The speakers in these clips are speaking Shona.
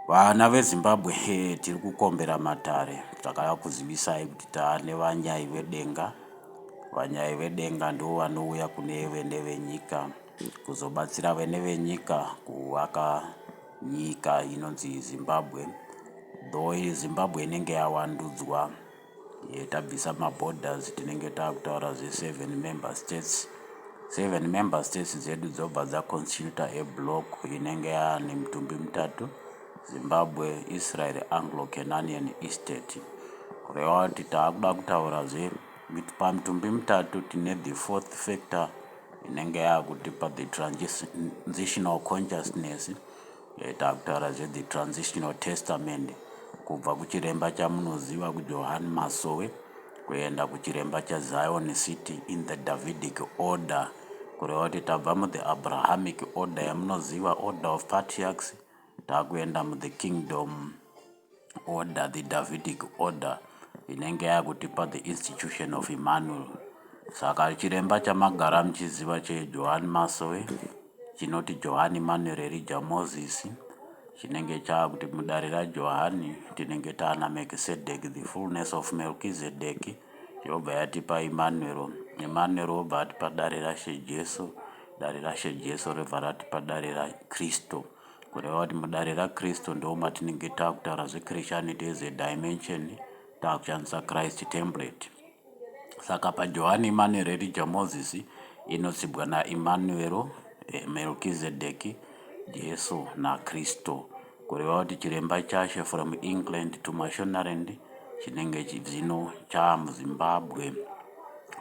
Vana veZimbabwe tiri kukombera matare takada kuzivisai kuti tane vanyai vedenga. Vanyai vedenga ndivo vanouya kune vene venyika kuzobatsira vene venyika kuvaka nyika inonzi Zimbabwe. Though Zimbabwe inenge yavandudzwa. tabvisa maborders tinenge takutaura zveseven member states seven member states dzedu dzobva dzaconstituta eblock inenge yaane mitumbi mitatu zimbabwe israel anglo cananian estate kureva kuti taakuda kutaura zve pamitumbi mitatu tine the fourth factor inenge yaakutipa the transitional consciousness Eh, takutaura zve the transitional testament kubva kuchiremba chamunoziva kujohan masowe kuenda kuchiremba chazion city in the davidic order kureva kuti tabva muthe abrahamic order yamunoziva order of patriarchs takuenda muthe kingdom order the Davidic order inenge yakutipa the institution of Emmanuel saka chiremba chamagara muchiziva cheJohani Masowe chinoti Johani Emmanuel Elijah Moses chinenge chakuti mudare raJohani tinenge taana Melchizedek the fullness of Melchizedek yobva yatipa Emmanuel Emmanuel obva atipa dare raShe Jesu dare raShe Jesu robva ratipa dare raKristu Kureva kuti mudare raKristu ndoo matinenge takutaura zveChristianity as a dimension takushandisa Christ template. Saka paJohani Immanuel Elijah Moses inotsibwa naImmanuel, eh, Melchizedek, Jesu naKristu. Kureva kuti chiremba chashe from England to Mashonaland chinenge chizino chaamuZimbabwe.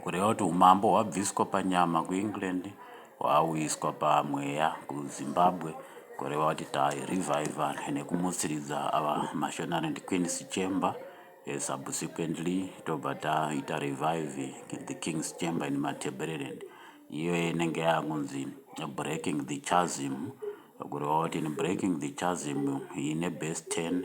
Kureva kuti umambo hwabviswa panyama kuEngland hwauyiswa pamweya kuZimbabwe kureva kuti tai reviver nekumutsiridza ava maShonaland Queens Chamber eh, subsequently tobva taita revive the King's Chamber in Matabeleland iyo inenge yakunzi breaking the chasm kureva kuti in breaking the chasm ine base 10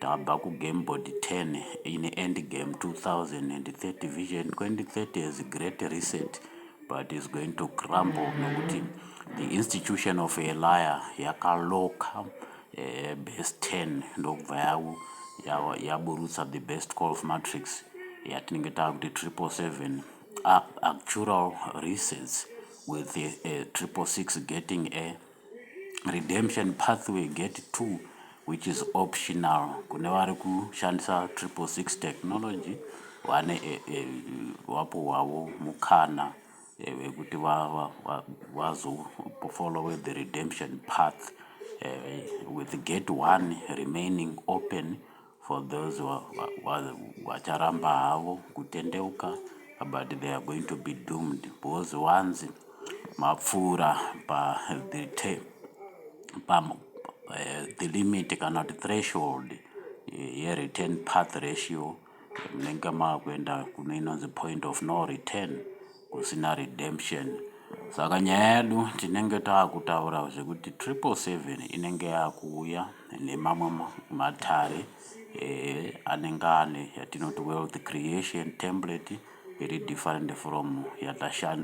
Tabva ku game board 10 in end game 2030 vision 2030 is great reset but is going to crumble nekuti the institution of a liar yakaloka eh, base 10 ndokubva yavo yaburutsa the best call of matrix yatinenge taakuti triple seven actual resets with a, a triple six getting a redemption pathway gate 2 which is optional kune vari kushandisa triple six technology vane e, eh, e, eh, vapo wavo mukana eh, wekuti vazofollowe va, va, va the redemption path uh, with gate one remaining open For those vacharamba havo kutendeuka but they are going to be doomed because wanzi mapfuura pa the te, pa uh, the limit kana kuti threshold eh, ye return path ratio munenge makuenda kuno inonzi point of no return kusina redemption saka nyaya yedu tinenge taakutaura zvekuti triple seven inenge yakuuya nemamwe matare eh, anenge ane yatinoti wealth creation template iri different from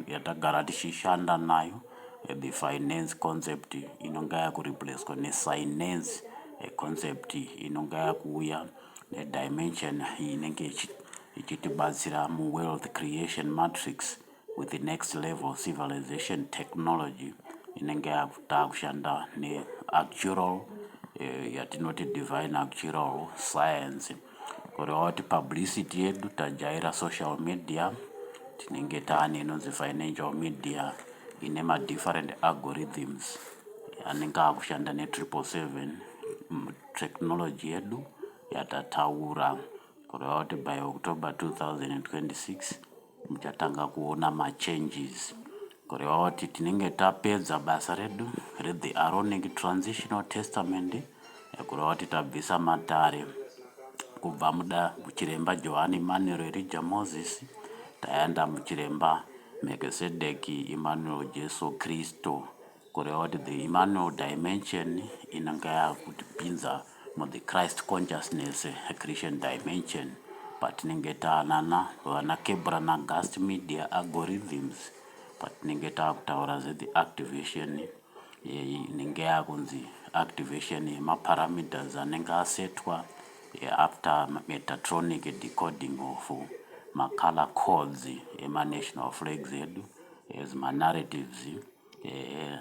yatagara tichishanda nayo eh, the finance concept inonga yakureplacwa nesinance eh, concept inonga yakuuya ku nedimension inenge ichitibatsira muwealth creation matrix with the next level civilization technology inenge takushanda neactural eh, yatinoti divine actual science kureva kuti publicity yedu tajaira social media tinenge taane inonzi financial media ine madifferent algorithms anenge akushanda netriple seven technology yedu yatataura kureva kuti by October 2026 muchatanga kuona machanges kureva kuti tinenge tapedza basa redu rethe aronic transitional testament kureva kuti tabvisa matare kubva muda muchiremba johani emmanuel erija moses taenda muchiremba mekisedeki emmanuel jesu kristu kureva kuti the Emmanuel dimension inenge yakutipinza mu the Christ consciousness Christian dimension patinenge taanana vana Kebra na Gust Media algorithms patinenge takutaura zve the activation yeyi inenge yakunzi activation yemaparameters anenge asetwa after metatronic decoding of macolor codes ema national flags edu as manarratives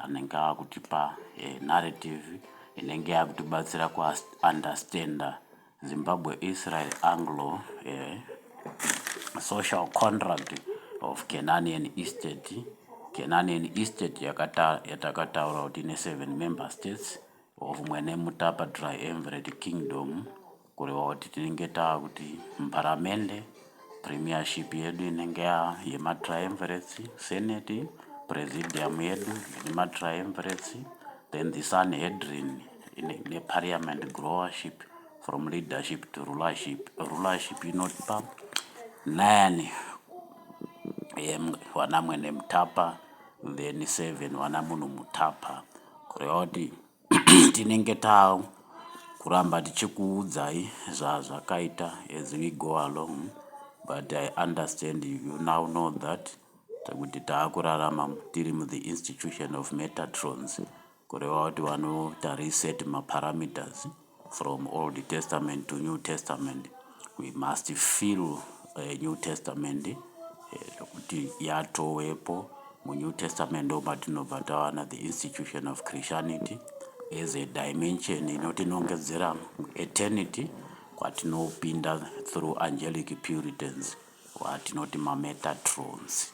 anenge ava kutipa narrative inenge yava kutibatsira kuunderstanda zimbabwe israel anglo social contract of cananian estate cananian estate yatakataura kuti ine seven member states of mwene mutapa dry environed kingdom kureva kuti tinenge taa kuti mparamende premiership yedu inenge ya yematriumvirates senate presidium yedu ine matriumvirates then the sun hedrin ine- neparliament growership from leadership to rulership rulership inotipa nine em, vana mwene mutapa then seven vana munhu mutapa Kureva kuti tinenge takuramba tichikuudzai zvazvakaita as we go along but I understand you now know that kuti takurarama tiri muthe institution of metatrons kureva kuti vanoita reset maparameters From Old Testament to New Testament we must feel uh, New Testament eh, zvekuti uh, yatowepo muNew Testament ndo matinobva tawana the institution of Christianity as a dimension inotinongedzera eternity kwatinopinda through angelic puritans watinoti mametatrons